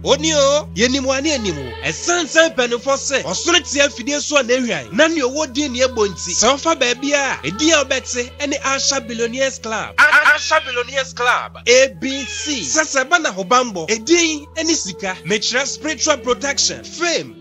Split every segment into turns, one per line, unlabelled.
Oni o, yenim wo ane anim wo. Ɛsan sɛ mpanyimfoɔ se, ɔsono te afidie so a n'ahwan na nea ɔwɔ din ne ɛbɔ nti, sɛ ɔfa baabi a, edin a wobɛte ne Asha Billionaires Club. Asha Billionaires Club, ABC, sɛ sɛ ɛba n'ahobammɔ, edin ne sika, mekyerɛ spiritual protection, fame,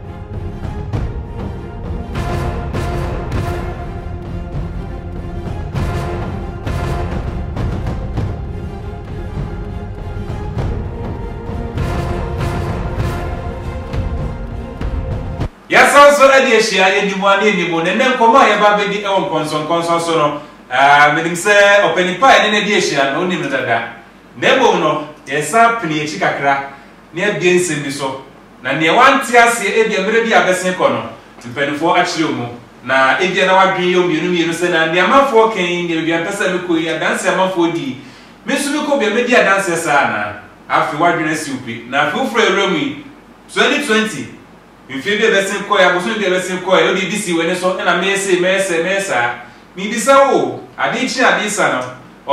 yɛasan nso de ahyia yɛdi mu ade ni mu na ɛnɛ nkɔmmɔ a yɛba bɛdi wɔ nkɔnsɔnkɔnsɔn so no menim sɛ ɔpani pa a ɛne no adi ahyia no wonim no dada na mmom no yɛsan pene akyi kakra na yɛabie nsɛm bi so na nea wante aseɛ ebia mmerɛ bi a abɛsen kɔ no nti mpanimfoɔ akyerɛ wo mu, na ebia na w'adwene yɛ wo mmienu mmienu sɛ na nea amanfoɔ reka yi nea baabi a mepɛ sɛ mekɔ yi adanseɛ a amanfoɔ di yi me nso mekɔ bi a mɛdi adanseɛ saa anaa? Afei w'adwene asi wo pi na afei wofiri awura mu yi 2020 mfeɛ bi a ɛbɛsen kɔɛ abosome bi a ɛbɛsen kɔɛ wode bi si w'ani so ɛna mɛyɛ sei mɛyɛ sɛɛ mɛyɛ saa mebisa wo o adee kye adee sa no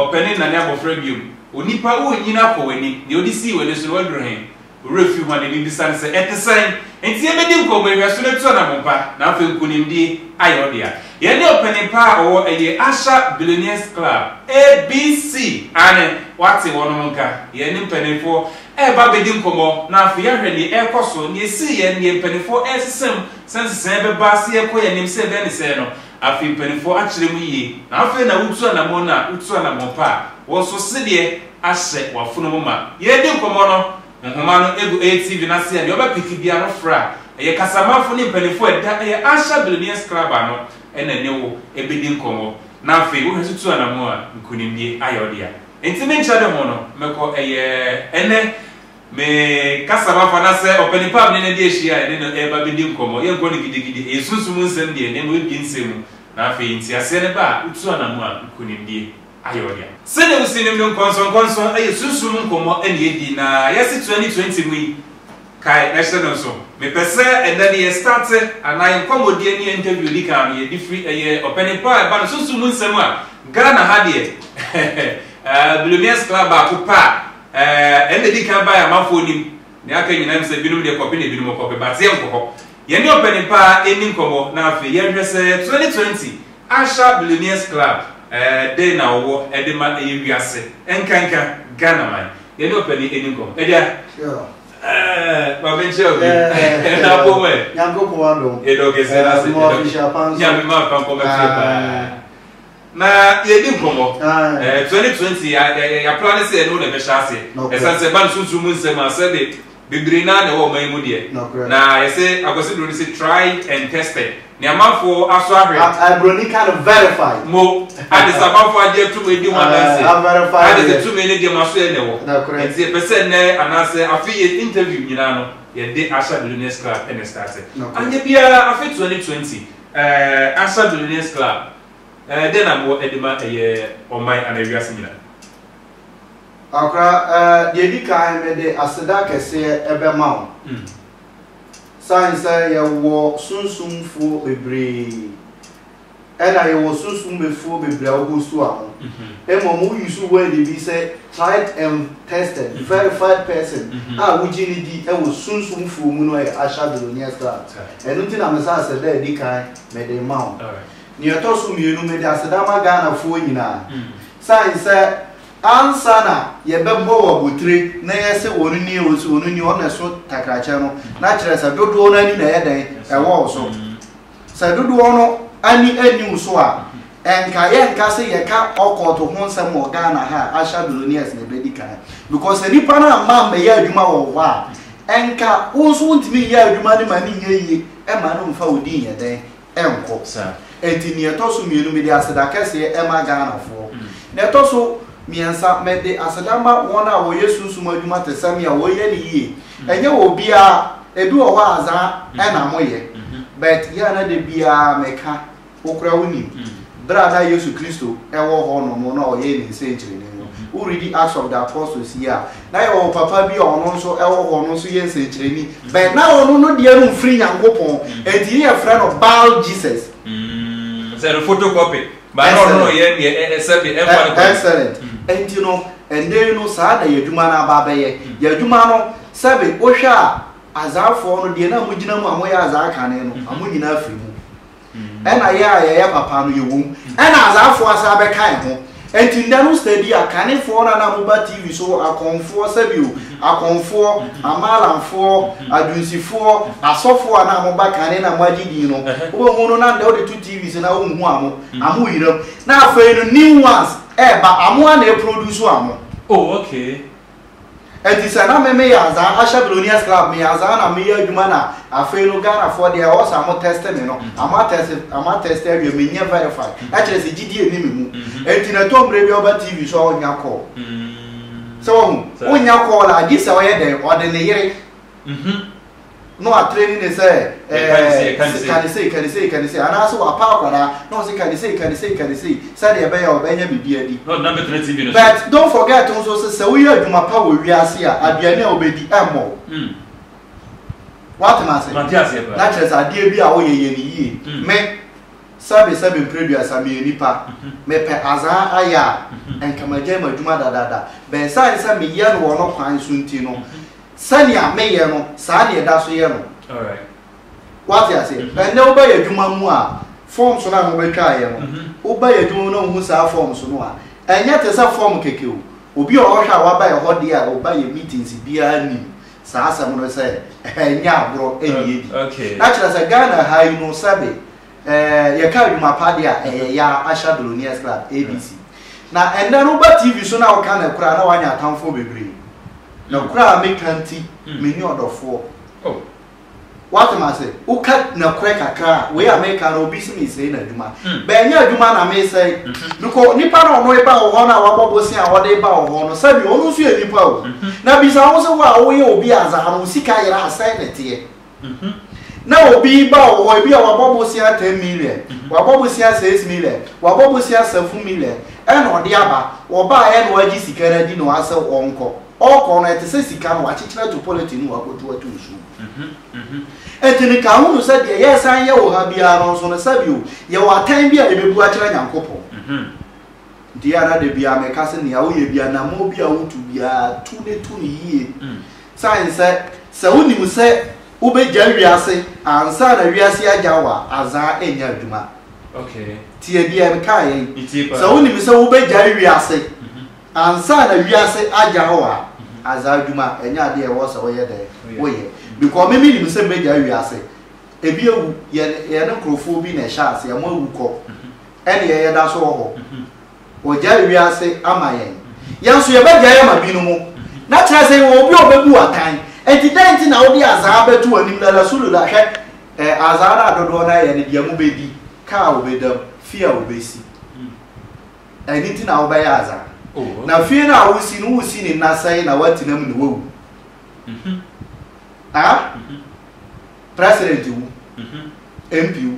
ɔpɛne nnane abɔfra biom onipa wo nnyini akɔ w'anim deɛ wode sii w'ani so no waduru he? Wo werɛ fi wɔn anim bisa no sɛ, Ɛte sɛn? Enti yebedi nkɔmmɔ, nhwɛso no atu anammɔn pa, na afei nkonimdi ayɛ wo dea. Yɛne ɔpanyin pa a ɔwɔ ɛyɛ Asha Billionaires Club, ABC, aane, woate wɔnom nka, yɛne mpanimfoɔ reba abedi nkɔmmɔ, na afei yɛahwɛ nea ɛrekɔ so, nea esii yɛn, nea mpanimfoɔ resesa mu, sɛ nsesaeɛ bɛba sɛ yɛkɔ yɛn anim sɛ dɛn ne sɛn no. Afei mpanimfoɔ akyerɛ mu yie, na afei na wotu anammɔn no a, wotu anammɔn pa a, wɔn nso sedeɛ. ahyɛ w'afono mu ma yɛredi nkɔmmɔ no. Nhoma no gu ATV no ase a nea ɔbɛpeke biara no frɛ a ɛyɛ kasamafo ne mpanyimfo a ɛda ɛyɛ Asia Billionaires Club ano na ɛne wo bedi nkɔmmɔ. Na afei wohwɛ so tu anammɔn a, nkonimdie ayɛ wo dea. Enti me nkyerɛde ho no, mɛkɔ ɛyɛ ɛne me kasamafo anaasɛ ɔpanin pa a me ne no adi ahyia a yɛne no reba abedi nkɔmmɔ. Yɛrenkɔ no gidigidi, ɛyɛ sunsum nsɛm deɛ, na mmom ɛbue nsɛm mu. Na afei nteaseɛ no ba a, wotu anammɔn a, nkonimdie. ayɛ wo dea. Sɛnea wusinim no, nkɔnsɔnkɔnsɔn yɛ sunsum mu nkɔmmɔ na yedi, na yɛasi 2020 mu yi kae na hyɛ no nsow. Mepɛ sɛ ɛnnɛ no yɛ starte anaa yɛ nkɔmmɔdi ne yɛ interview a edi kan no yɛde firi ɛyɛ ɔpanin pa a ɛba no sunsum mu nsɛm a Ghana ha deɛ eh, billionaires club baako pɛ a eh, ɛnna edi kan bae amanfoɔ nim, nea aka nyinaa nim sɛ binom deɛ kɔpe na binom kɔpe, but yɛnkɔ hɔ. Yɛne ɔpanin pa ara nni nkɔmmɔ na afei yɛnhwɛ sɛ 2020 Accra Billionaires Club dɛn na wɔwɔ de ma ɛyɛ wiase nkanka Ghanaman. Yɛne ɔpanin nni nkɔmmɔ. Agya, ma menkyerɛ wo bi. Na bom ɛ. Nyankopɔn adom.
Yɛdɔ kɛse na ase.
Yɛdɔ kɛse. Nyame ma fa nkɔmɛ fie paa. na yɛdi nkɔmmɔ ɛɛ twenty twenty ya ya ya ya plan sɛ ɛno na ɛbɛhyɛ ase ɛsan sɛ ɛba no sunsun mu nsɛm a sɛ de bebree naa na ɛwɔ ɔman yi mu deɛ na yɛsɛ akwasi buroni sɛ tried and tested ne amanfoɔ aso ahwɛ aburoni ka no
verify mo ade sɛ
amanfoɔ agye atum edi ho adanse ade sɛ
tumi ne deɛ mo aso
yɛ na ɛwɔ nti yɛpɛ sɛ nnɛ anaasɛ afei yɛ interview nyinaa no yɛde ahyɛ billionaires club ɛna start anyɛ biara afei twenty twenty ɛɛ ahyɛ billionaires club Dɛn na mowɔ de ma ɛyɛ ɔman anaa wiase nyinaa? Akora,
deɛ ɛdi kan, mede aseda kɛseɛ bɛma wo. Sane sɛ yɛwɔ sunsumfoɔ bebree, ɛna yɛwɔ sunsumbefoɔ bebree a wɔgu so a ho. Mmom wo use word bi sɛ tried and tested, verified person a wogye no di wɔ sunsumfoɔ mu no yɛ Asha Billonier Star. Ɛno nti na mesa aseda a ɛdi kan Mede rema wo. Nea ɛtɔ so mmienu, mede aseda ma Ghanafoɔ nyinaa. Sane sɛ ansa na yɛbɛbɔ wɔn abotire na yɛse wɔn nie, wɔse wɔn nie, wɔn na ɛso takrakyɛ no, na kyerɛ sɛ dodoɔ no ani na ɛyɛ dɛn? Ɛwɔ wo so. Sɛ dodoɔ no ani anni wo so a, ɛnka yɛnka sɛ yɛka ɔkɔɔto ho nsɛm wɔ Ghana ha a, Asha Billionaires na ɛbɛdi kan. Because sɛ nnipa no amma ammɛyɛ adwuma wɔ hɔ a, ɛnka wo nso wontumi nyɛ adwuma no ma no nyɛ yie. Mma no mmfa wo din nyɛ dɛn nkɔ. Enti nea ɛtɔ so mmienu mede aseda kɛseɛ ma Ghanafoɔ. Nea ɛtɔ so mmiɛnsa mede aseda ma wɔn a wɔyɛ sunsum adwuma te sɛ me a wɔyɛ no yie. Ɛnyɛ wɔ obiara, ebi wɔ hɔ a azaa na moyɛ but yɛ a na da biara meka Wo koraa wunim, bere a na Yesu Kristo wɔ hɔnom na ɔyɛɛ ne nsɛnkyerɛnne no, woredi Acts of the Apostles yi a, na yɛwɔ papa bi a ɔno nso wɔ hɔ, ɔno nso yɛ nsɛnkyerɛnne, but na ɔno no deɛ no mfiri Nyankopɔn, enti ne yɛfrɛ no Baal Jesus. Mm, sɛ
no photocopy, but na ɔno no yɛ deɛ ɛsɛ bi, ɛmfa no kɔ. Excellent.
Mm. Enti no, ɛnɛ no saa na yɛadwuma no aba abɛyɛ. Mm. Yɛadwuma no, sɛbe wohwɛ a, azaafoɔ no deɛ na mogyina mu a moyɛ azaa kane no, mm-hmm. amo nyinaa firi mu. Ɛna yɛ a yɛyɛ papa no yɛwɔ mu. Ɛna asafoɔ asan bɛka yɛn ho. Ɛnti nnɛ no study a, Kanefoɔ no a na moba TV so, Akɔmfoɔ, sɛbio, Akɔmfoɔ, Amalanfoɔ, Adwunsifoɔ, Asɔfoɔ a na moba kane na moagye din no, wobɛhu no na nnɛ wode to TV so no a wonhu amo. Amo yeram. Na afei no new ones ɛɛba, amo a na ɛproduce amo. Oh okay.
Ɛnti
sɛ na me meyɛ azaa ahyɛ billionaires club meyɛ azaa na meyɛ adwuma na afei no Ghana foɔ deɛ ɛwɔ sɛ ɔmo test me no ɔmo atest ɔmo atest awie menyɛ verify ɛkyerɛ sɛ gyidie nni me mu ɛnti na ɛtɔ mmerɛ bi a ɔba TV so a ɔnya call sɛ wahu ɔnya call a gye sɛ ɔyɛ dɛn ɔde ne yere na watrɛ ni ne sɛ ɛɛ kanisei kanisei kanisei anaasɛ wapa akwadaa na ɔsɛ kanisei kanisei kanisei sɛdeɛ ɛbɛyɛ ɔbɛnya biribi adi
but don't forget nso
sɛ sɛ woyɛ adwuma pa wɔ wiase a aduane a wobɛdi ɛmmɔ wo hmm. woatem ase na kyerɛ sɛ adeɛ bi a woyɛ yɛ ne yie hmm. me sɛbe sɛbe mprɛduasa meyɛ nipa hmm. mepɛ azaa ayɛ a nkamagya mu adwuma dadaada bɛn sane sɛ meyɛ no wɔ no kwan so nti no Sɛnea meyɛ no, saa na yɛda so yɛ no.
Woate
aseɛ? Ɛnnɛ woba yɛn adwuma mu a, forms no a mobɛtwaa yɛn no, woba yɛn adwuma mu na wohu saa forms no a, ɛnyɛ te sɛ form kɛkɛ o. Obi a ɔhwɛ a waba yɛn hɔ deɛ a ɔba yɛn meetings biara nim saa asɛm no sɛ ɛnyɛ agorɔ ɛnni adi. Na kyerɛ sɛ
Ghana ha
yi no sɛbe Eh, yɛka adwuma pa de a, ɛyɛ ya Asha Billionaires Club, ABC. Na ɛnɛ no woba TV so na woka no koraa na woanya atamfoɔ bebree. Na mm. koraa meka nti, mm. menni ɔdɔfoɔ. Oh.
Wate
ma se, woka na korɛ kakra a, wei a meka no obi se mesɛe na adwuma. Mm. Bɛnyɛ adwuma na mesɛe. Mm-hmm. Because nipa na ɔno eba wɔ hɔ na wabɔ bose a wɔde ba wɔ hɔ no, sɛbi ɔno nso yɛ nipa o. Mm-hmm. Na bisa wo se wo a woyɛ obi a dza ano sika yera asɛe ne teɛ. Na obi ba wɔ hɔ, ebi a wabɔ bosea ten million, wabɔ bosea six million, wabɔ bosea seven million, ɛna ɔde aba, ɔbaeɛ na wagye sika no adi na wasɛ ɔnkɔ. Ɔkɔ no, ɛte sɛ sika no, wakyekyere ato polythene mu akɔtu ato nsuo mu. Enti no ka ho no sɛ deɛ yɛresan yɛ wɔ ha biara no nso no, sɛbio, yɛwɔ atɛn bi a yɛbɛbu akyerɛ Nyankopɔn. Deɛ ara da biara meka sɛ nea woyɛ biara, namɔn bi a wotu biara, tu ne tu no yie. Sane sɛ, sɛ wonim sɛ wobɛgya wiase ansa na wiase agya wo a, azaa ɛnyɛ adwuma.
Tie deɛ mekaeɛ
yi, sɛ wonim sɛ wobɛgya wiase ansa na wiase agya wo a, azaa adwuma ɛnyɛ adeɛ a ɛwɔ sɛ woyɛ dɛn? Woyɛ. Because me menim sɛ mɛgya wiase. Ɛbi awu, yɛne nkorɔfoɔ bi na ɛhyɛɛ aseɛ, wɔawu kɔ. ɛnneɛ yɛda so wɔ hɔ. Wɔgyae wiase ama yɛn. Yɛn nso yɛbɛgyae ama binom. Na kyerɛ sɛ yɛwɔ obi a ɔbɛbu wo atɛn. Enti dɛn nti na wode azaa bɛto w'anim na Rasulullah hwɛ eh, azaa no a dodoɔ no ara yɛ ne deɛ mobɛdi, ka a wobɛdam, fie a wobɛsi. Ɛno nti na wobɛyɛ azaa. Na fie no a wosi no, wosi ne nna sɛe na woatena mu na woawu. Ah mm President wu, MP wu,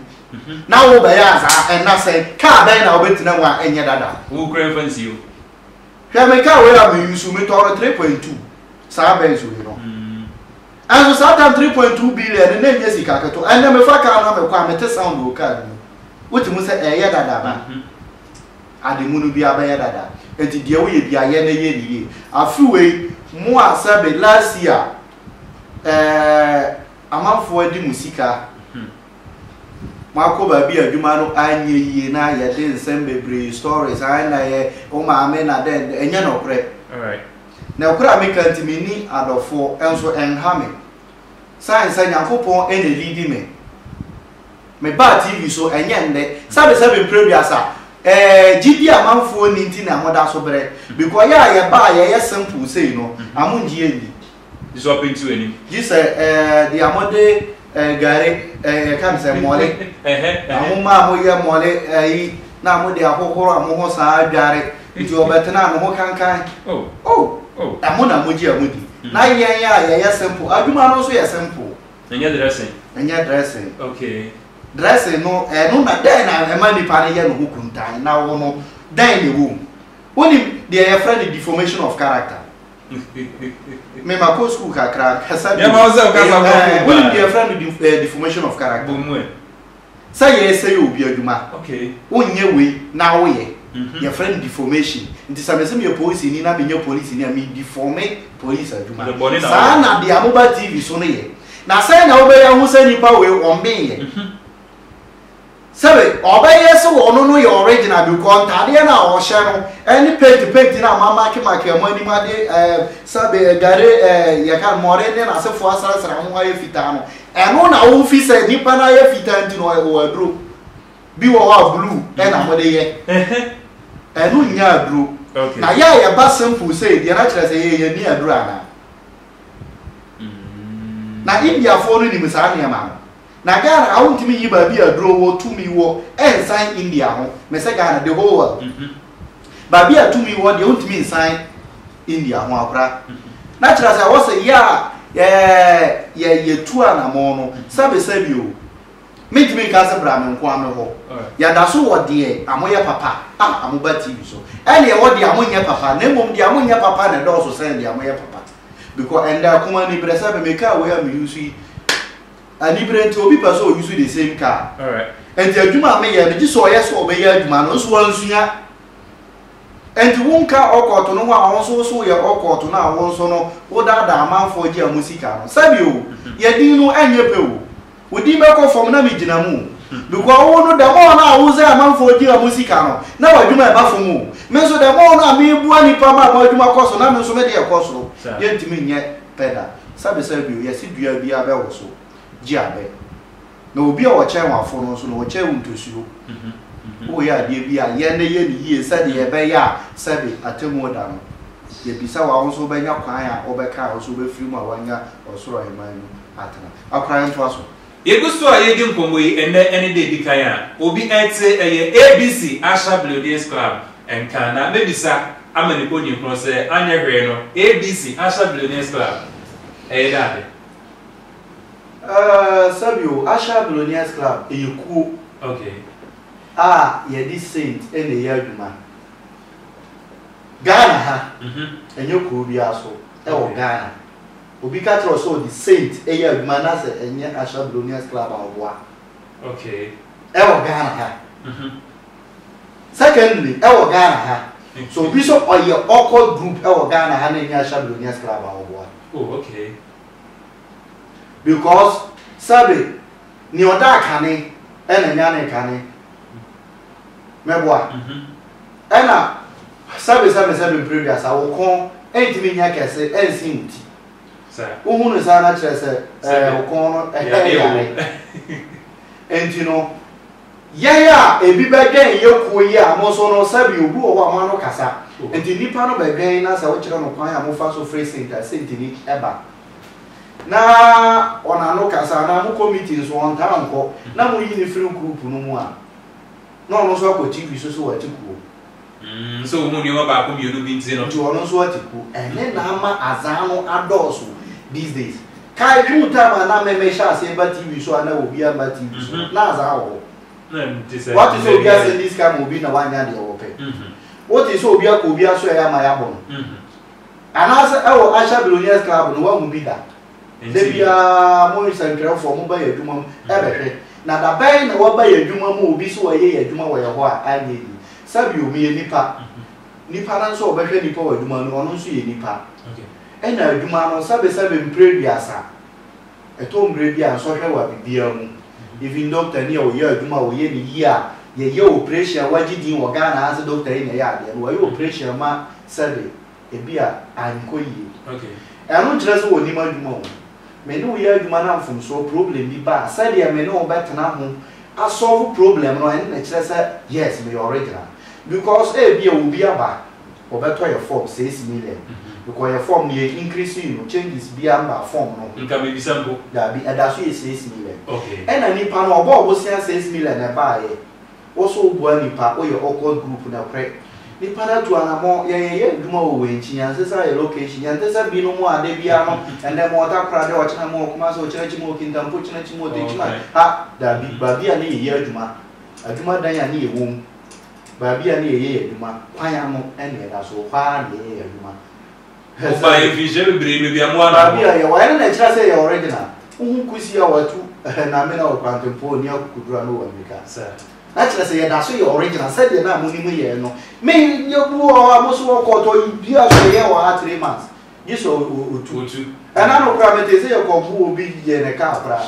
na wo bɛyɛ adza nna sɛn? Car bɛn na wobɛtsena mu a nnyɛ dada? Wo kura mfa nsi o.
Hwɛ me
car wei a me use o, me tɔɔ no three point two, saa Benz wei no. Nso saa time three point two billion no na nnyɛ sika ketewa, ɛnnɛ me fa car no a me kɔ a me te sound wɔ car no mu, wo te hu sɛ ɛyɛ dada ba. Ademono biara bɛyɛ dada nti deɛ woyɛ biara yɛ na yɛ no yie. Afe wei mo a sɛbe last year eh, amanfoɔ adi mo sika, moakɔ baabi a adwuma no anyɛ yie na yɛde nsɛm bebree, stories, ae na yɛ wo maame na dɛn dɛn, ɛnyɛ nɔkorɛ.
Nɔkorɛ a meka
nti menni adɔfoɔ nso ɛnha me. Sign sɛ Nyankopɔn na ɛliidi me Mebaa TV so, ɛnyɛ nnɛ. Sɛbesɛbe mprɛ aduasa. Ɛɛ, gyidi a manfoɔ nni nti na moda so brɛ. Mekɔeɛ a yɛba a yɛyɛ simple sei no, amongye yɛn nni. Gye sɛ ɔpenti
w'anim. Gye sɛ, ɛɛ,
deɛ mode, ɛɛ, gari, ɛɛ, yɛka no sɛ mɔle. Ɛhɛ, ɛhɛ. Ahoma a moyɛ mɔle, ayi, na mode ahohoro mo ho saa adware. Nti ɔbɛtena a, ne ho kankan. Oh. Oh. Oh. Ɛho na mogye a modi. Na yɛn a yɛyɛ simple, adwuma no nso yɛ
simple.
Ɛnyɛ dressing. Ɛnyɛ
dressing.
Okay. Dressing no ɛno na dɛn na ɛma nipa no yɛ ne ho kuntan na wo no dɛn na ɛwɔ mu? Wonim deɛ yɛfrɛ no deformation of character. Me ma kɔ school kakra kasa bi. Yɛ ma wo sɛ kasa kɔ.
Wonim deɛ yɛfrɛ no
deformation of character. Bomuɛ.
Sɛ
yɛresɛe obi adwuma, wonyɛ
wei
na woyɛ, yɛfrɛ no deformation. Nti sɛ mese meyɛ polisini na menyɛ polisini a, me deforme polisi adwuma. Saa na deɛ moba TV so no yɛ. Na sɛn na wobɛyɛ ahu sɛ nipa wei ɔmmenyɛ? Sɛbe ɔbɛyɛ sɛ ɔno no yɛ original because ntaadeɛ no a ɔhyɛ no ɛne paint paint no a moamaakemaake wɔn anim ade ɛɛ sɛbe gare ɛɛ yɛka no mmɔre ne n'asefoɔ asrasra ho ayɛ fitaa no. Ɛno na wo fi sɛ nipa no ayɛ fitaa nti na ɔyɛ wɔ aduro bi wɔ hɔ a blue ɛna mo de yɛ ɛno nyɛ aduro na yɛ a yɛ ba simple sei deɛ na kyerɛ sɛ yɛ yɛ ni aduro ana na India foɔ no nim saa nneɛma no na Ghana awo ntumi nyi baabi aduro wɔ tumi wɔ ɛnsan India ho mɛ sɛ Ghana the whole world. Baabi a tumi wɔ deɛ wontumi nsan India ho akora. Na kyerɛ sɛ ɛwɔ sɛ yɛ a yɛ yɛtu anamɔn no sɛbesɛ bi o. Mentumi nka sɛ bra me nko a me hɔ. Yɛda so wɔ deɛ amoyɛ papa a amoba TV so. Ɛne ɛwɔ deɛ amonyɛ papa na mmom deɛ amonyɛ papa na ɛdɔɔso sɛn deɛ amoyɛ papa. Because ɛnda ɛkɔm ani brɛ sɛbe mekaa wei a me use yi. Anibere nti obi pɛ sɛ ɔ use the same car. Ɛnti
adwuma a meyɛ
no gye sɛ ɔyɛ sɛ ɔbɛyɛ adwuma no nso wansua. Ɛnti wo nka ɔkɔɔto no ho a ɔnso wo so woyɛ ɔkɔɔto no a wo nso no wo daadaa amanfoɔ gye ɔmo sika no. Sɛbi o, yɛ din no ɛnyɛ pɛ o. Wo din bɛkɔ fam na me gyina mu o. Because wo no the more no a wo sɛ amanfoɔ gye ɔmo sika no na w'adwuma ɛba fam o. Me nso the more no a me boa nipa ma ɔmo adwuma kɔ so na me nso me deɛ kɔ soro. Yɛntumi nyɛ pɛ da. Sɛbesɛbe bio, yɛse dua biara bɛwo so, gye abɛ. Na obi a ɔkyɛn w'afo no nso no, ɔkyɛn wo ntosuo. Woyɛ adeɛ bi a, yɛ no yɛ no yie sɛdeɛ ɛbɛyɛ a sɛbe atemmuo da no, yɛbisa wo a, wo nso wobɛnya kwan a wobɛka a wo nso wobɛfiri mu a woanya Ɔsoro Ahemman mu atena. Akoraeɛ ntoa so. Yegu so a yedi
nkɔmmɔ yi ɛnnɛ ne da edi kan a obi ɛte ɛyɛ ABC Asha Bleodins Club nka na mɛbisa ama nipa onim ho sɛ anyɛ hwee no ABC Asha Bleodins Club ɛyɛ dɛ ade? Ɛɛ
sɛbi o, Asha Bleodins Club ɛyɛ kuo Okay.
a
yɛde saint na ɛyɛ adwuma Ghana ha, Mhm. ɛnyɛ kuro biara so ɛwɔ Okay. Ghana. Obi ka kyerɛ wo sɛ ɔde Saint yɛ adwuma na sɛ ɛnyɛ Asha Billionaires Club a ɔboa. Okay. Ɛwɔ Ghana ha. Mhm. Secondly, ɛwɔ Ghana ha. So obi sɛ ɔyɛ awkward group ɛwɔ Ghana ha na ɛnyɛ Asha Billionaires Club a ɔboa. Oh, okay.
Because,
sɛbe. Nea ɔdaa kane na nyanee kane mɛboa. Ɛna sɛbe sɛ mesɛbe mprɛduasa, wo kɔn ntumi nyɛ kɛse nsen wo ti.
Wohu no saa na
kyerɛ sɛ ɛɛ wo kɔn no ɛhɛ yare. Enti no, yɛn a ebi bɛdwɛn yɛ kuo yi a mo nso no sɛbe obi wɔ hɔ a mo ano kasa. Enti nipa no bɛdwɛn na sɛ wokyerɛ no kwan a mofa so firi senta sentini ba. na wɔn ano kasa anaa mokɔ meeting nso wɔntaa nkɔ na moyi no firi group no mu a na ɔno nso akɔ TV so sɛ wate kuo. Mm, sɛ
ohun nneɛma baako mmienu bi nti no. Nti ɔno nso ate kuo.
Ɛne na ama azan no adɔɔso these days. Kae twe mu time a na mɛmɛ hyɛ aseɛ ba TV so a na obi ama TV so mm-hmm. na azan wɔ hɔ.
Wate sɛ obi asɛndi sika
ma obi na wanya deɛ wɔpɛ. Mm-hmm. Wote sɛ obi akɔ obi aso ɛyɛ ama yɛabɔ no. Mm-hmm. Anaasɛ ɛwɔ Asha Billionaires Club no woahu bi da? Da biara mo nsɛnkyerɛwfoɔ moba yɛn adwuma mu bɛhwɛ. Na da bɛn na woaba yɛn adwuma mu a obi so ɔyɛ yɛn adwuma wɔ yɛn hɔ a anyɛ yie? Sabio, meyɛ nipa. Nipa no nso a ɔbɛhwɛ nipa wɔ adwuma mu no, ɔno nso yɛ nipa. Ɛna
adwuma no,
sɛbesɛbe mprɛduasa. Ɛtɔ mmere bi a nsɔhwɛ wɔ biribiara mu. Even doctor ni a ɔyɛ adwuma a ɔyɛ no yie a yɛyɛ operation a wagye din wɔ Ghana ha sɛ doctor yi na ɛyɛ adeɛ no, wayɛ operation ma sɛbe ebi a ankɔ yie. Ɛno
nkyerɛ sɛ
ɔnnim adwuma o. Me ne wo yɛ adwuma na mfomsoɔ, problem bi ba a, sɛdeɛ me ne wo bɛtena ho asɔlvo problem no ɛno na ɛkyerɛ sɛ yes meyɛ original. Because ebia obi aba. wɔbɛtɔ yɛ fɔm seis million bikɔ yɛ fɔm no yɛ inkirisi yi no changes bia mba fɔm no ho nka mebisa mpo
daabi ɛdaso yɛ
seis million ok ɛna nipa
no ɔbɔɔ
bosea seis million na ɛbaayɛ woso woboa nipa woyɛ awkward group nɔkorɛ nipa no atu anamɔ yɛn yɛyɛ adwuma wɔ wɛnkyi yɛn sesa yɛ location yɛn ntesɛ bi no mo a da bia no ɛndɛ mo wɔ takoradi ɔkyena mo wɔ kumase ɔkyena akyi mo wɔ kintampo kyena akyi mo wɔ tekyima ha daabi baabi a ne yɛyɛ adwuma adwuma dan a ne yɛwom. Baabi a na yɛyɛ yɛn adwuma, kwan ano na yɛda so, hɔ ara na yɛyɛ yɛn adwuma. Mobae
mfinhyia bebree, baabi a mo ara na mowɔ. Baabi a yɛwɔ, ɛno na
ɛkyerɛ sɛ yɛyɛ original. Wohu kusi a wɔatu na amena wɔ kwantempɔn a onni akukuduru ano wɔ Amerika? Na kyerɛ
sɛ yɛda
so yɛ original, sɛdeɛ na monim yɛn no. Me, yɛbu wɔ hɔ a, mo nso wɔkɔ, tɔ, biribiara so, yɛyɛ wɔ ha three months. Gye sɛ otu. Otu. Ɛna no koraa metee sɛ Yakob mu obi yɛɛ ne kaa koraa.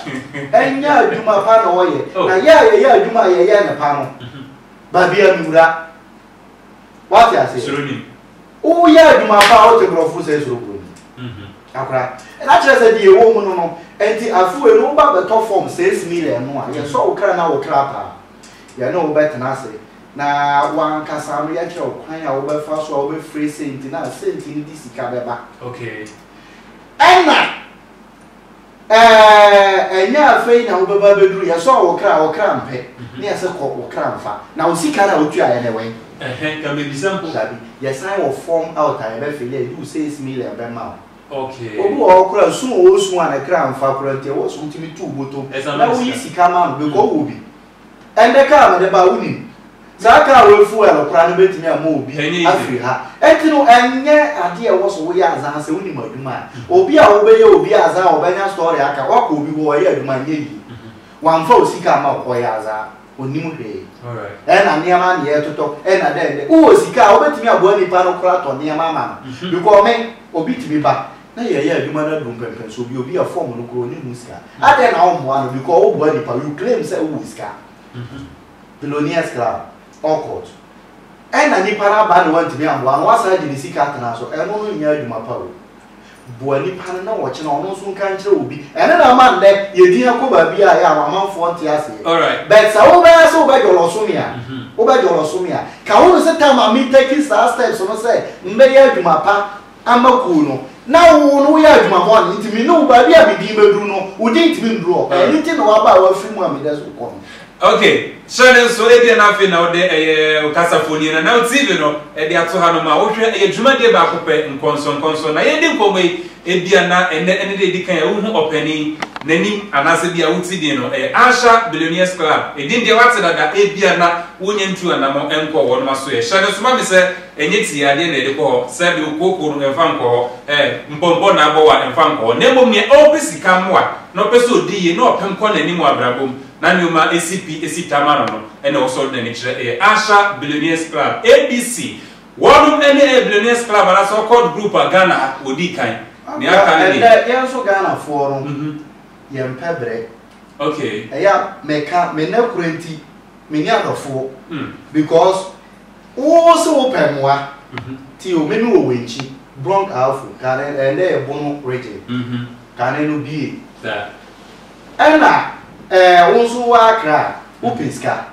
Ɛnyɛ adwuma pa na ɔyɛ. Oh. Na yɛ a yɛyɛ adwuma a yɛyɛ no pa no, Mhm. baabi a mewura. Woate aseɛ? Suro nim.
Woyɛ
adwuma pa a wote borɔfo sɛ suro kuro nim. Mhm. Akora. Na kyerɛ sɛ deɛ ɛwɔ mu no no, ɛnti afewei no woba bɛtɔ fam six million no a, yɛsɔ wo kra na wo kra paa. Yɛne wo bɛtena ase Na w'ankasa no yɛkyerɛ wo kwan a wobɛfa so a wobɛfrɛ senti no a senti no de sika bɛba.
Ɛna
ɛɛ ɛnyɛ afei na wobɛba abɛduru yɛsɔɔ wo kra wo kra mpɛ ne yɛse kɔ wo kra mfa na wo sika no a wotuaeɛ no ɛwɛn?
Dabi yɛsan wɔ
form out a yɛbɛfili a ɛdu wo six million bɛma wo. Obi wɔ hɔ
koraa su
a ɔresu a ne kra mfa koraa nti ɛwɔ so wotumi tu wo botom na woyi sika ma no because ɔwɔ bi. Ɛnde ka a mede ba, wunim. Saa ka a woafuw a ɛkora no betumi ama obi afi ha. Enti no, ɛnyɛ ade a ɛwɔ so woyɛ azan sɛ wunim adwuma a obi a wobɛyɛ obi azan a ɔbɛnya story aka. Woakɔ obi hɔ, ɔyɛ adwuma, anyɛ yiye. Wamfa wo sika amma wo, ɔyɛ azan, onnim hwee. Ɛna nneɛma
ano yɛ
totɔ. Ɛna dɛn? Ɛnde wowɔ sika a wobetumi aboa nipa no koraa atɔ nneɛma ama no. Because me, obi tumi ba. na yɛ yɛ adwuma no adu mpɛmpɛn so obi obi a form no koro oni ho sika adɛn na wɔn mmoa no because wo boa nipa you claim sɛ wo sika billionaires club all court ɛna nipa no aba na wantumi amboa no wasan agye ne sika atena so ɛno no nyɛ adwuma pa o boa nipa no na wɔkyena ɔno nso nka nkyerɛ obi ɛno na ama nnɛ yɛdin akɔ baabi a yɛ amanfoɔ nte aseɛ but sɛ
wobɛyɛ sɛ
wobɛdwɔlɔ so me a wobɛdwɔlɔ so me a ka wo no sɛ tam a metaki saa steps no sɛ mbɛyɛ adwuma pa ama kuw no, na wo no woyɛ adwuma bɔne nti me ne wo baabi a me din bɛduru no, wo din ntumi nduru hɔ. Ɛno ah. nti na waba a wafiri mu a meda so kɔ no. Ok,
hyɛ no nso, ebia na afei na wode ɛyɛ okasafoni na na TV no ɛde ato ha no ma wohwɛ ɛyɛ dwumadie baako pɛ nkɔnsɔnkɔnsɔn na yɛdi nkɔmmɔ yi ebia na ɛnɛ ɛne deɛ ɛdi kan a wohu ɔpanin n'anim anaasɛ bi a woti din no ɛyɛ Asha Billionaires Club, edin deɛ wate dada ebia na wonyɛ ntu anamɔ nkɔ wɔn aso yɛ hyɛ no nso ma me sɛ Ɛnyɛ tie adeɛ na yɛde kɔ hɔ, sɛdeɛ okooko no, mfa nkɔ hɔ, ɛɛ, mpɔmpɔ na abɔ wo a, mfa nkɔ hɔ, na mmom nea ɔpɛ sika mmoa, na ɔpɛ sɛ ɔdi yie, na ɔpɛ nkɔ n'anim wɔ abrabɔ mu, na nneɛma si pi si tam ano no, ɛna ɛwɔ sɛ ɔde n'ani kyerɛ. Ɛyɛ Accra Billionaires Club, ABC. Wɔnom ɛne ɛyɛ Billionaires Club anaasɛ Accord Group a Ghana ha wɔdi kan. Nea aka no deɛ. Ɛnɛ yɛn nso Ghanafoɔ
no, yɛmpɛ brɛ. Okay. Ɛyɛ
a meka,
me nnɛ korɛ nti. Me nua dɔfoɔ, because wo se wo pɛ mmoa, ti o, me me wɔ w'ankyi, Brong Ahafo, kane ɛyɛ dɛ yɛ Bono region, kane no bie,
ɛna
ɛɛ wo nso wo Accra, wo pɛ sika,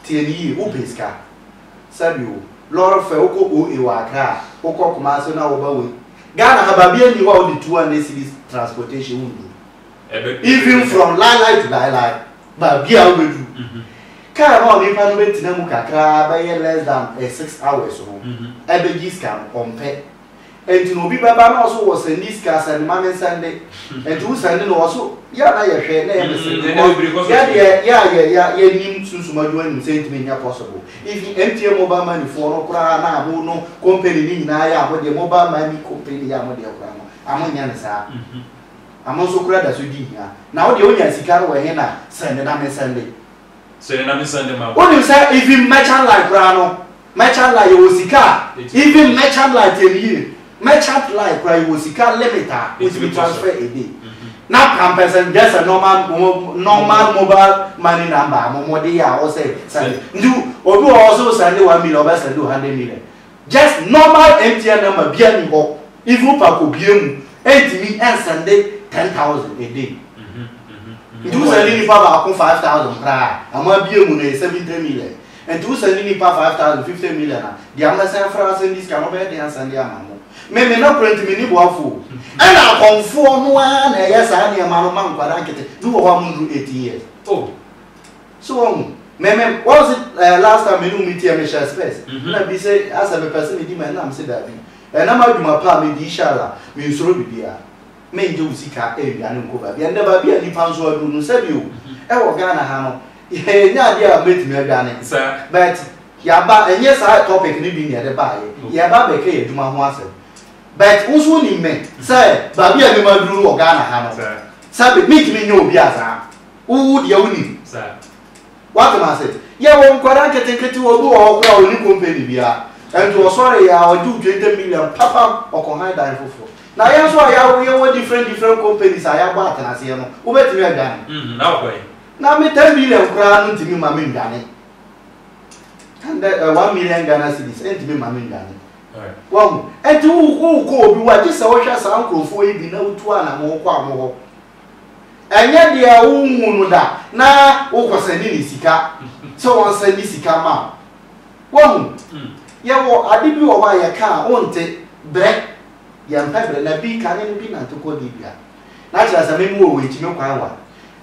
tie me yie, wo pɛ sika, sɛbi o, lɔre fɛ, wo kɔ OA wɔ Accra, wo kɔ Kumasi na wo ba wei, Ghana ha, baabi a nni hɔ a wo de two hundred cedis transportation wo nnuru. Even from laelae to laelae, baabi a wobɛduru. Kaa no a onipa no bɛtena mu kakraa bɛyɛ less than a six hours no, ɛbɛgye sika no, ɔmpɛ. Nti no obi bɛba na ɔse ɔwɔ sɛnde sika, sɛnde ma mensɛnde. Nti wo sɛnde no, ɔse yɛ a na yɛhwɛ na ɛyɛ ne sere because yɛ deɛ yɛ a yɛ yɛ yɛnim sunsum adwuma nim sɛ ntumi nyɛ possible. Even MTN mobile money foɔ no koraa na mo no company no nyinaa yɛ a mo deɛ mobile money company yɛ a mo deɛ koraa no, a monyɛ no saa. ano nso koraa da so di hia. Na wo deɛ wonya sika no wɔ he na sɛnde na mensɛnde? Sɛnde na mensɛnde ma wo. Wonim sɛ even merchant line koraa no, merchant line yɛwɔ sika a even merchant line tie me yie, merchant line koraa yɛwɔ sika limit a wotumi transfer a day. Na pampers and just a normal normal mobile money number a mo mo de yɛ a wosɛ sɛnde. Nti obi wɔ hɔ ɔse wosɛnde one million ɔbɛsɛnde wo hundred million. Just normal MTN number bia ni hɔ even wopɛ a kɔ bue mu ɛntumi ɛnsɛnde ten thousand a day nti wo sɛnde nipa baako five thousand koraa a ɛma bue mu no yɛ seventy million nti wo sɛnde nipa five thousand fifty million a deɛ mɛsɛn afra asɛnde sika no ɔbɛyɛ den asɛnde ama mo me me nɔkorɛ nti menni boafo o ɛna akɔmfoɔ no ara na ɛyɛ saa nneɛma no ma nkwadaa nkete bi wɔ hɔ a monnuru eighteen years
oh
so wɔhu me me wɔn se ɛɛ last time mene omi teɛ mehyɛ spɛs mhm. na bi sɛ asɛ mepɛ sɛ medi ma ɛna mese daabi ɛnam adwuma paa medi hyala mensoro biribiara mengye wo sika ɛnwia ne nkɔ baabi ɛndɛ baabi a nipa nso aduru no sɛbi o mhm. ɛwɔ ghana ha no yɛnyɛ adeɛ a mɛtumi adwane but yaba ɛnyɛ saa topic ne bi ne ɛde baayɛ yɛba bɛka yɛ adwuma ho asɛm but wo so nim me sɛ baabi a mema duru wɔ ghana ha no sɛbi mentumi nyɛ obi a saa Wo wo deɛ wo nim. Wate ma ase. Yɛ wɔ nkwara nketenkete wɔ bi wɔ hɔ kora a ɔni kompani bia. Ɛnti ɔsɔre yɛ a ɔgye wo 20 million papam ɔkɔ han dan foforɔ. Na yɛn nso a yɛ awo yɛ wɔ different different companies a yɛ abɔ atenaseɛ no wo bɛtumi adwane. Mm na ɔkɔ he. Na me 10 billion koraa no ntumi ma me ndwane. Hundred, one million Ghana cedis ɛntumi ma me ndwane. Wahu. Ɛnti wo wo kɔ wɔ bi wɔ a gye sɛ wo hwɛ saa nkorɔfoɔ yi bi na wo tu anamɔn kɔ a mo hɔ. Ɛnyɛ deɛ wonhuu no da na wokɔsɛne no sika sɛ ɔnsɛne sika ma wo. Woahu? Yɛwɔ ade bi wɔ hɔ a yɛka a wonte, berɛ. Yɛmpɛ berɛ. Na bi, kane no bi nante kɔɔ Libya. Na kyerɛ sɛ me mowɔ wɔ akyime kwan wa.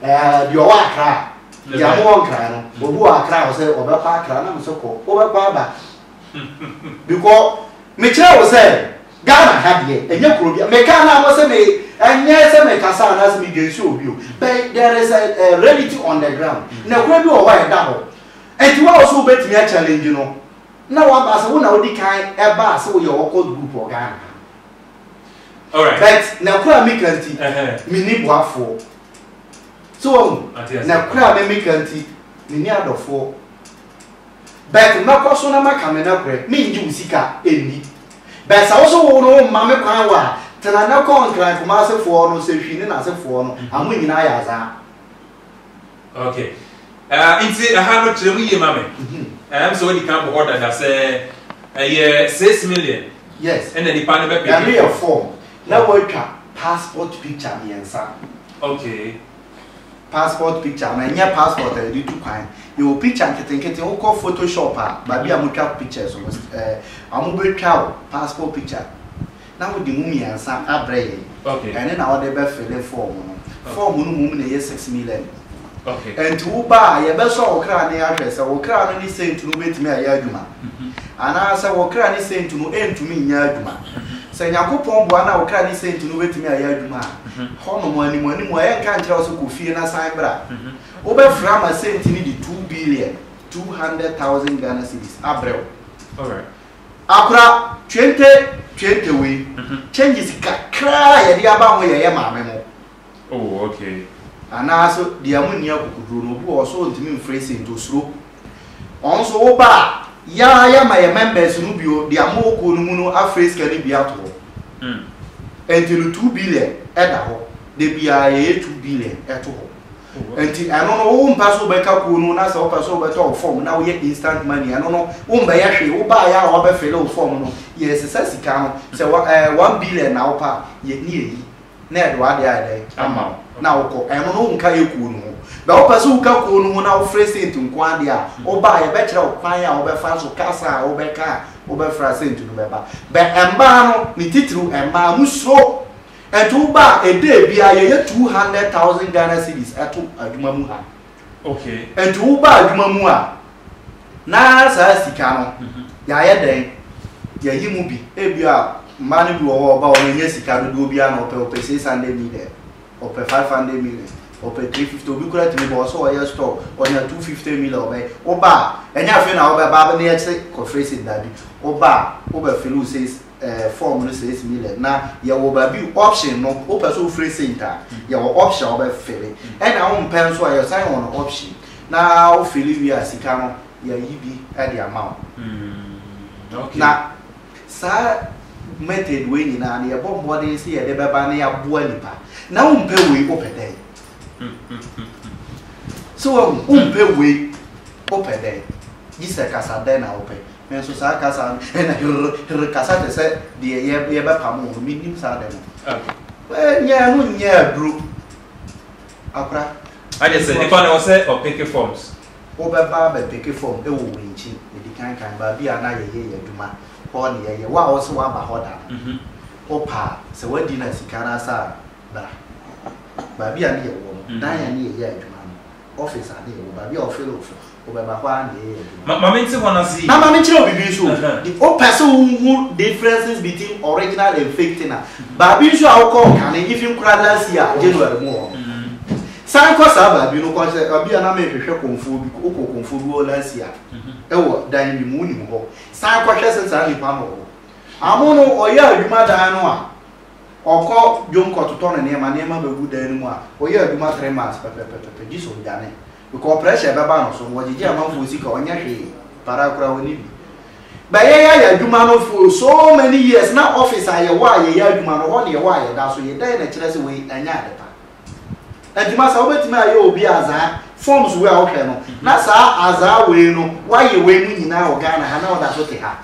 Ɛɛ, deɛ ɔwɔ Accra a, deɛ mowɔ Nkran no, obi wɔ Accra a ɔsɛ ɔbɛkɔ Accra, na mese kɔ, wobɛkɔ aba. Because, mekyerɛɛ wo sɛ. Ghana ha deɛ ɛnyɛ kuro bia me ka na mo se me ɛnyɛ sɛ me kasa anaasɛ me dwen sɛ obi o but there is a, a reality on the ground nɛkorɛ bi wɔ hɔ a ɛda hɔ ɛnti wo a wo se wo bɛtumi a challenge no na wo aba sɛ wo na wo di kan ɛba a sɛ wo yɛ occult group wɔ Ghana ha Alright. but nɛkorɛ a me ka nti Ɛhɛn. me ni boafoɔ so wahu Ate aseɛ. nɛkorɛ a me me ka nti me ni adɔfoɔ but mɛkɔ so na maka me nokorɛ, mengye wo sika nni. But sɛ wo so wo no womma me kwan wɔ a, tena na kɔ Nkran Kumase foɔ no, Sehwi ne n'asefoɔ no, amo nyinaa yɛ azaa.
Okay. Ah, nti aha no kyerɛ mu yie ma me. Mhm. Ɛm sɛ wadi kan bɔhɔ dada sɛ ɛyɛ six million Yes. ɛna nipa
no bɛpeke
Ɛno yɛ form. form
na woatwa passport picture mmiɛnsa. Okay. passport picture anaa ɛnyɛ passport a yɛde tu kwan. Yɛwɔ picture nketenkete, wokɔ photo shop a, baabi a wɔtwa pictures no, ɛɛ, wɔbɛtwa wo passport picture na wode mu mmiɛnsa abrɛ yɛn. Okay. Ɛno na wode
bɛ fille
form no. Form no mmom na ɛyɛ six million. Okay. Ɛnti
wo ba a,
yɛbɛsɔ wo kra ne ahwɛ sɛ wo kra no ne saint no bɛtumi ayɛ adwuma, anaasɛ wo kra ne saint no ɛntumi nyɛ adwuma. Sɛ Nyankopɔn boa na wo kra ne saint no bɛtumi ayɛ adwuma a, hɔ nom, anim anim a, yɛnka nkyerɛ wo sɛ kɔ fie na san bra. Wo bɛ frɛ ama saint no de two billion, two hundred thousand Ghana cedis, abrɛ wo.
Akora,
twente, twente wei, changes kakra a yɛde aba ho yɛ yɛ maame mo, Oh
okay. Anaa so
deɛ mo nni akokoduro no obi wɔ hɔ so ɔntumi mfrɛ saint osuro wɔn so wo ba a yɛ ara yɛ ma yɛ members no bi o deɛ mo wɔ kuo no mu no afrɛ sika no bi ato hɔ ɛnti no two billion ɛda hɔ da biara yɛyɛ two billion ɛto hɔ ɛnti ɛno no wo mpa so wobɛka kuo no na sɛ wopɛ so wobɛtɔ wo form na woyɛ instant money ɛno no wo mbɛyɛ hwee wo ba a yɛ a wɔbɛfele wo form no yɛ sesa sika no sɛ one billion na wopa yɛ ne yɛyi na yɛde w'ade ayɛ dɛn ama wo na wokɔ ɛno no wonka yɛ kuo no ho bɛ wopɛ sɛ woka kuo no ho na wofrɛ sent nko adeɛ a wobaa yɛbɛkyerɛ wo kwan a wobɛfa so kasa a wobɛka a wobɛfra sent no bɛba bɛ mmaa no ne titiriw mmaa mo suro ɛnti wobaa ɛdɛ biara yɛyɛ 200,000 Ghana cedis ɛto adwuma mu ha Okay.
Nti wo ba adwuma
mu a, na saa sika no, mhm. yɛayɛ dɛn? Yɛyi mu bi. Ebi a, mmaa no bi wɔ hɔ ɔba wɔn nyɛ sika dodoɔ bi a na ɔpɛ ɔpɛ six hundred million, ɔpɛ five hundred million, ɔpɛ three fifty obi kura tumi bɔ ɔsɛ ɔyɛ store ɔnya two fifty million ɔbɛyɛ. Wo ba a, ɛnyɛ afei na ɔbɛba abɛn yɛkyerɛ kɔfrɛ si dabi. Wo ba a, wobɛfili wo sɛ eh form no says me le na yɛwɔ baabi option no wopɛ sɛ wofrɛ saint a yɛwɔ option a wobɛ fele ɛna wompɛ nso a yɛsan wɔ no option na wo fele wie a sika no yɛyi bi de ama wo
na
saa method wei nyinaa no yɛbɔ mmɔden sɛ yɛde bɛba na yɛaboa nipa na wompɛ wei wopɛ dɛn sɛ wahu wompɛ wei wopɛ dɛn gye sɛ kasa dɛn na wopɛ Me nso saa kasa no ɛna herr herr kasa te sɛ deɛ yɛ yɛbɛpamo no mennim saa ade no. Ɛɛ nyɛ ɛno nyɛ aduro akora. Agye sɛ
nipa no ɔsɛ ɔpeke forms. Wobɛba
abɛpeke form ɛwɔ Winkyi medi kan kan baabi a na yɛyɛ yɛ adwuma hɔ na yɛyɛ wo a wose waba hɔ da no wopɛ a sɛ wadi na sika no asa a bra baabi a ne yɛwɔ no dan a ne yɛyɛ adwuma no. office ade wɔ baabi a wɔfeele wo form, wobɛba hɔ ara na yɛyɛ adwuma no. Ma me nte hɔ no ase yie.
Na ma me nkyerɛ wo biribi nso o,
de wopɛ sɛ wo hu differences between original and fake thing a, baabi nso a wo kɔɔ kane, even koraa last year January mu wɔ hɔ no, san kɔ saa baabi no kɔ sɛ baabi a na me hwehwɛ kɔmfoɔ bi, wo kɔɔ kɔmfoɔ bi hɔ last year ɛwɔ dan bi mu, wo nim hɔ, san kɔ hwɛ sɛ saa nipa no wɔ hɔ. Amono ɔyɛ adwuma dan no a. Ɔkɔ dwom kɔtotɔ ne nneɛma, nneɛma bɛgu dan no mu a, ɔyɛ adwuma three months pɛpɛpɛpɛpɛ gyesɛ ɔdwane. Because pressure bɛba no so no, ɔgyegye amanfoɔ sika, ɔnyɛ hwee, paraa koraa ɔnni bi. But yɛn yɛayɛ adwuma no for so many years, na office a yɛwɔ a yɛyɛ adwuma no, hɔ na yɛwɔ a yɛda so yɛ, dɛn na ɛkyerɛ sɛ wei ɛnyɛ ade pa? Ɛnti masa wobɛtumi ayɛ obi azaa forms wei a wohwɛ no, na saa azaa wei no, woayɛ wei mu nyinaa wɔ Ghana ha na woda so te ha?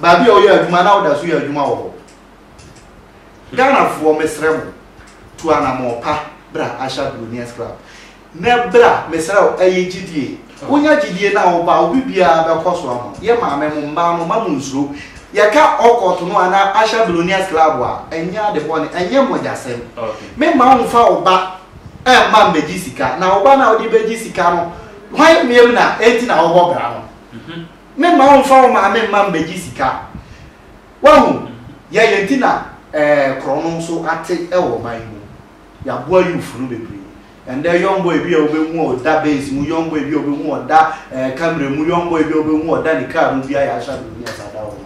baabi a ɔyɛ adwuma na ɔda so yɛ adwuma wɔ hɔ. Ghanafoɔ mesrɛ mo tu anamɔn pa bra Asha Billionaires Club na bra mesrɛ wo ɛyɛ gyidie wonya gyidie na woba obi biara bɛkɔ so ama yɛ maame mo mmaa no ma mo nsuro yɛka ɔkɔto no anaa Asha Billionaires Club a ɛnyɛ ade bɔne ɛnyɛ mmogyasɛm me ma wo
mfa wo
ba ɛmma mbɛgye sika na wo ba no a wode bɛgye sika no hwan mmiam na ɛnti na wobɔ bra no mhm. Memma womfa wo maame mma mmegye sika. Woahu, yɛn yɛn nti na ɛɛ korɔno nso ate wɔ ɔman yi mu. Yɛaboa youth no bebree. Ɛnnɛ young boy bi a wobɛhu a ɔda Benz mu, young boy bi a wobɛhu a ɔda ɛɛ Camry mu, young boy bi a wobɛhu a ɔda ne car mu biara yɛahyɛ ade wɔ New York saa da hɔ no.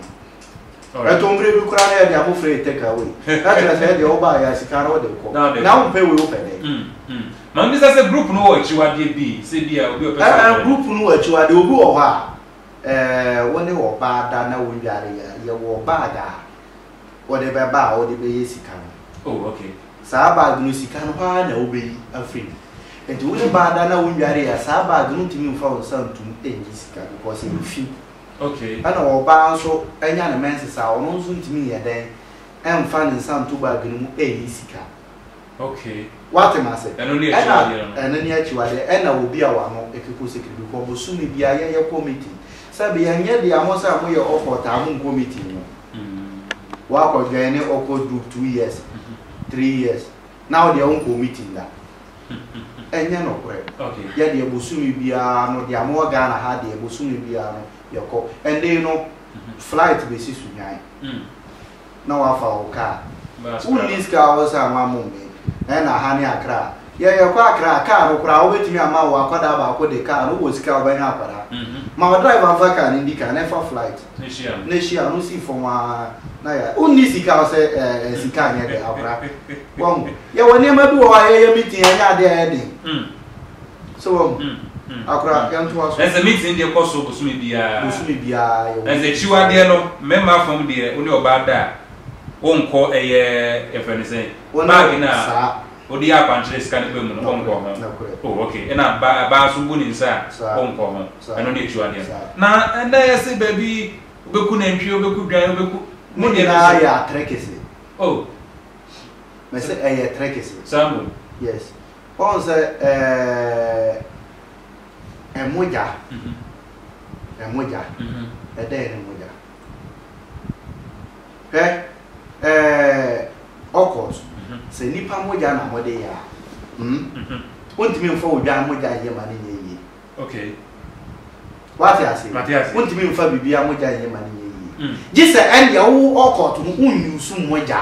Ɛtɔ mprɛ bi koraa na yɛde abofra yɛ take away. Na kyerɛ sɛ ɛdeɛ wobaa yɛ a sika no wode kɔ. Na wompɛ wei wopɛ dɛn? Mm mm ma mebisa sɛ group
no wɔ akyiwadeɛ bi sɛ bi a obi ɔpɛ sɛ ɔbɛn no? Ɛɛ group no wɔ akyiwadeɛ
obi wɔ hɔ a ɛɛ wo ne ɔbaa da na wo nnware yɛ a yɛwɔ bag a wode bɛba a wode bɛyɛ sika no. Oh ok.
Saa bag no
sika no hɔ ara na wobɛyi afiri mu. Nti wo ne baa da na wo nnware yɛ a saa bag no ntumi mfa wo nsa ntom nnyi sika because ɛyɛ fi. Ɛna
ɔbaa nso
nya ne menses a, ɔno nso ntumi nyɛ dɛn mfa ne nsa nto bag no mu nyi sika.
Woate me ase?
Ɛna
ɛno ne akyiwadeɛ.
Ɛna obi a wano keko sikiridi kɔ bosome biara yɛyɛ committee. Sɛbi ɛnyɛ dea mo sɛ moyɛ Occult a monkɔ meeting no. Woakɔ joine Occult group two years, three years, na wo deɛ wonkɔɔ meeting da. Ɛnyɛ nokorɛ. Yɛ deɛ bosome biara no deɛ ama wɔ Ghana ha deɛ bosome biara no yɛ kɔ. Ɛnde no flight bɛsi Sunyani na wafa wo car. Wo nni sika a wo san ma mum me ɛna ha ne Accra. Yɛ yɛ kɔ Accra a car no koraa wo bɛtumi ama wo akwadaa baako de car no wo wɔ sika a wo bɛnya akwadaa. Ma wo driver mfa car no ndi kan na ɛfa flight. ne hyia no si fam ara na yɛ wonni sika sɛ ɛɛ sika nyɛ dɛ akora wɔn yɛwɔ nneɛma bi wɔ hɔ a yɛyɛ meeting ɛnyɛ ade a ɛyɛ den hmm. so wɔn hmm. hmm. akora yɛn to aso. ɛsɛ meeting deɛ kɔ so
bosome biara bosome biara yɛwɔ
ɛsɛ kyiwadeɛ no
mmarima fam deɛ wo ne ɔbaa da a wonkɔ ɛyɛ yɛfrɛ no sɛ baagi no a Odi yɛ akwankyerɛ sika no ba mu no ɔnkɔ ho. Oh ok, ɛna ba baa nso obu ne nsa a ɔnkɔ ho. Ɛno ne akyiwadeɛ no. Na ɛnɛ yɛse baabi wobɛku nantwie, wobɛku dwan, wobɛku. Ne nyinaa yɛ
atrɛkese. Oh. Mese ɛyɛ trɛkese. Saa mmom. Yes. Woahu sɛ ɛɛ mogya, ɛmogya, ɛdɛn ne mogya? Hwɛ ɛɛ Ocult, sɛ nipa mogya na mode yɛ a, hmm, wontumi mfa odwan mogya nyɛ ma no nyɛ yie.
Okay.
Wate ase? Mate ase. Wontumi mfa biribi a mogya nyɛ ma no nyɛ yie. Mm. Gye sɛ ɛndeɛ wo Ocult no wonyusu mogya.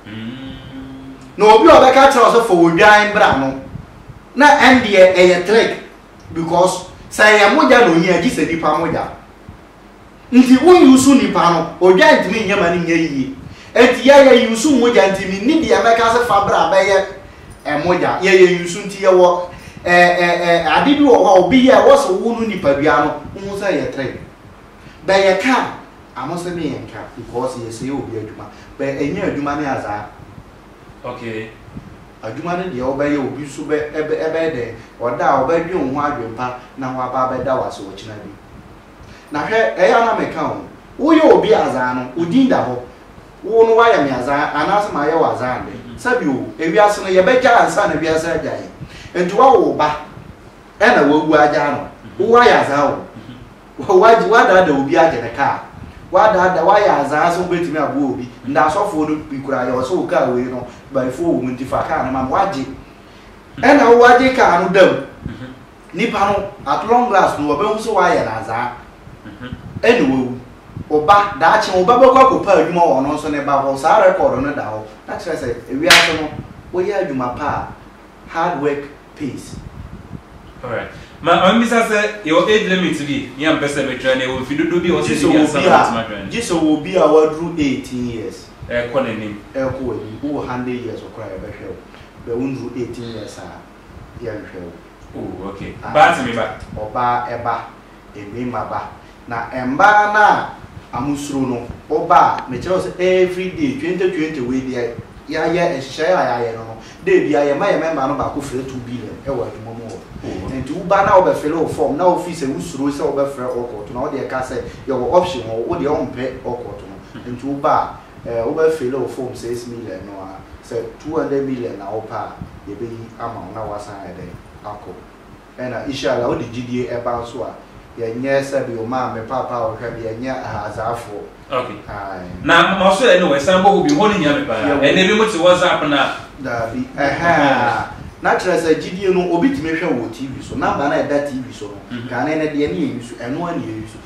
Mm. Na obi a ɔbɛka kyerɛ wo sɛ fa odwan bra no, na ɛndeɛ ɛyɛ trick because sɛ ɛyɛ mogya na ohia gye sɛ nipa mogya. Nti wo use nipa no odwa ntumi nyɛ ma no nyɛ yie nti yɛ yɛ use mogya nti me nni deɛ mɛka se fa bra bɛyɛ mogya yɛ yɛ use nti yɛ wɔ ɛɛɛɛ ade bi wɔ hɔ a obi yɛ ɛwɔ se wo no nipadua no wo ho sɛ yɛ tre bɛ yɛ ka ano se me yɛ nka because yɛ sɛɛ obi adwuma bɛ ɛnyɛ adwuma ne azaa okay
adwuma
no deɛ wo bɛ yɛ obi nso bɛ ɛbɛ ɛbɛ dɛn ɔda a ɔbɛ dwen wo ho adwen pa na wa ba bɛ da wase ɔkyena bi. Na hwɛ, ɛyɛ a na meka wo ho. Woyɛ obi a adzaa no, wo din da hɔ. Wo no wɔayɛ me adzaa anaasɛ mayɛ wo adzaa ndɛ? Sɛbe o, ewiase no, yɛbɛgyaa ansaana wiase agyaa hɛn. Ntsi wɔawo wo ba na woewu agyaa no. Wɔayɛ adzaa o. Wɔagye, wɔadaadaa obi agye ne kaar. Wɔadaadaa, wɔayɛ adzaa so bɛtumi aboa obi. Ndɛ asɔfoɔ no bi koraa yɛ hɔ sɛ, o kaar wei no, bayifoɔ wɔ mu ntsi fa kaar no ma me. Wɔagye. Nna wo wɔagye kaar no da mu. Nipa no at long last no wɔbɛhu sɛ woayɛ no adzaa na woewu. Wo ba, daakye wo ba bɛkɔ akɔpɛ adwuma wɔ ɔno nso ne ba hɔ, saa record no da hɔ, na kyerɛ sɛ wiase no woyɛ adwuma pa a, hard work pays. Alright.
Ma ma mebisa sɛ yɛwɔ age limit bi me a mepɛ sɛ metwɛn no, yɛwɔ mfe dodoɔ bi a ɛwɔ sɛ ɛdi bi ansa na matumi atwɛn no? Gye sɛ ɔwɔ obi a waduru
eighteen years. Ɛrekɔ n'anim.
Ɛrekɔ w'anim. Wowɔ
hundred years koraa a yɛbɛhwɛ wo, bɛ wonduru eighteen years a. yɛnhwɛ wo. Oh ok
baa sɛ me ba. Ɔbaa ɛba
ɛbɛɛma ba na ɛmbaa no a amo suro no ɔba a mekyerɛ wo sɛ every day twente twente wei deɛ yayɛ nhyehyɛɛ a yayɛ no no day biaa yɛma yɛ mɛmba no baako frɛ two billion ɛwɔ adwuma mu hɔ nti wo ba no a wo bɛ fele wo form na wo fii sɛ wo suro sɛ wo bɛ frɛ ɔkɔɔto na wo deɛ ka sɛ yɛwɔ option hɔ wo deɛ ɔmpɛ ɔkɔɔto no nti wo ba a Eh wobɛ fille wo form six million no a, sɛ two hundred million na wopɛ a yɛbɛyi ama wo na woasan ayɛ dɛn akɔ. Ɛna ishallah wode gyidie ɛba nso a, yɛnyɛ sɛbi wo maame papa a wohwɛ no, yɛnyɛ Ahazaafoɔ. Ok. Ae.
Na ma so ɛne wɔ san bɔ hɔ bio, hɔ no hia me paa. Yɛwɔ. Ɛnɛ binom te WhatsApp no a. Daabi.
Ɛhɛɛ. Na kyerɛ sɛ gyidie no obi tumi hwɛ wɔ TV so, number no a ɛda TV so no, kane no deɛ ne yɛ use, ɛno ara na yɛ use.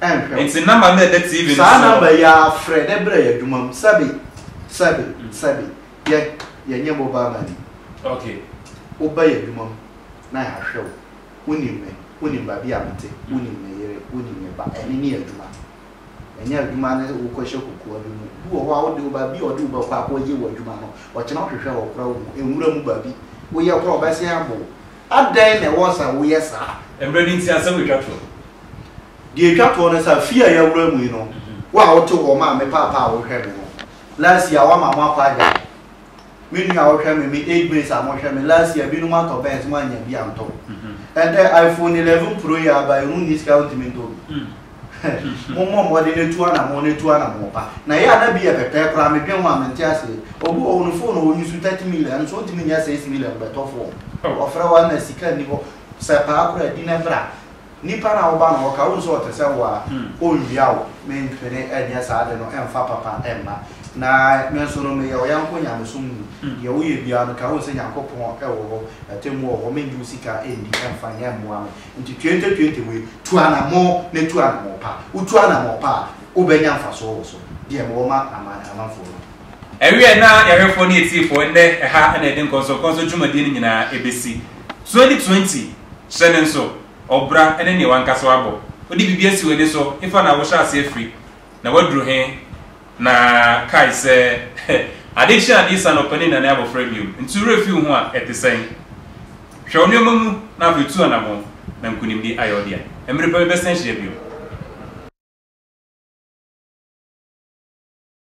ɛnhwɛ wo. Ntsi
number no a ɛda TV no so hɔ. Saa number yi ara
frɛ dɛ bra y'adwuma mu sɛbe sɛbe sɛbe yɛ yɛnyɛ mobile money. Okay.
Wo ba
y'adwuma mu na y'ahwɛ wo. Wo nim me, wo nim baabi a me te, wo nim me yere, wo nim me ba, ɛno ne y'adwuma. Ɛnyɛ adwuma ne wo kɔ hyɛ kokoa bi mu. Bi wɔ hɔ a wo de wo ba, bi a ɔde wo ba kɔ akɔ yɛ w'adwuma no, ɔkyena ɔhwehwɛ hɔ koraa ohu, nwura mu baabi, wo yɛ koraa ɔbɛsen abo wo. Adɛn na ɛwɔ sɛ woyɛ saa? Mmerɛ no nti asɛm retwa
toɔ. Deɛ
ɛtwa toɔ ne sɛ, fie a yɛawura mu yi no, wo a wote hɔ, maame paapa a wohwɛ me no, last year woama mo akɔ agyae. Me nua a wohwɛ me, me age mates a mohwɛ me, last year binom atɔ Benz, moannya bi antɔ. Ɛnnɛ, iPhone eleven Pro yi a aba yi, wonni sika a wontumi ntɔ bi. Mommɔ mmɔden na tu anamɔn na tu anamɔn pa. Na yɛ a na bi yɛ pɛpɛɛ koraa, me dwen ho a mente aseɛ. Obi wɔ hɔ no phone a ɔnyi so thirty million nso ɔntumi nyɛ six million bɛtɔ fɔm. Ɔfrɛ wo a na sika nni hɔ. Sɛ paa koraa a di ne bra. Nipa no a woba no hɔ ka wo nso ɔte sɛ wo a ɔnnwia wo. Mentwene nyɛ saa ade no mfa papa mma. Na me nso no meyɛ wo yɛnko nyamesom ni. Deɛ woyɛ biara no ka ho sɛ Nyankopɔn wɔ hɔ, atemmuo wɔ hɔ. Mennye wo sika nndi mfa nyɛ mmoa me. Nti twenty twenty wei tu anamɔn na tu anamɔn pa. Wo tu anamɔn pa a wo bɛ nya nfasoɔ wɔ so. Deɛ me wɔ ma aman amanfoɔ no. Ɛwieɛ na
yɛhwɛfoɔ ne yɛtiefoɔ ɛnnɛ ɛha na yɛde nkɔnsɔ nkɔnsɔ dwumadie no nyinaa ɛbɛsi. Twenty twenty hyɛ no nso ɔbra ɛne neɛ wankasa wabɔ. Wode biribi asi w'ani so efa na wohyɛ aseɛ firi na waduru he? Na kae sɛ, Ade rehye ade resian na ɔpanin nna ne abofra bio nti wo werɛ fi wo ho a, ɛte sɛn? Hwɛ wo nneɛma mu na afei tu anamɔn na nkonimdi ayɛ wo dea. Mmere pa bi bɛsan ahyia bio.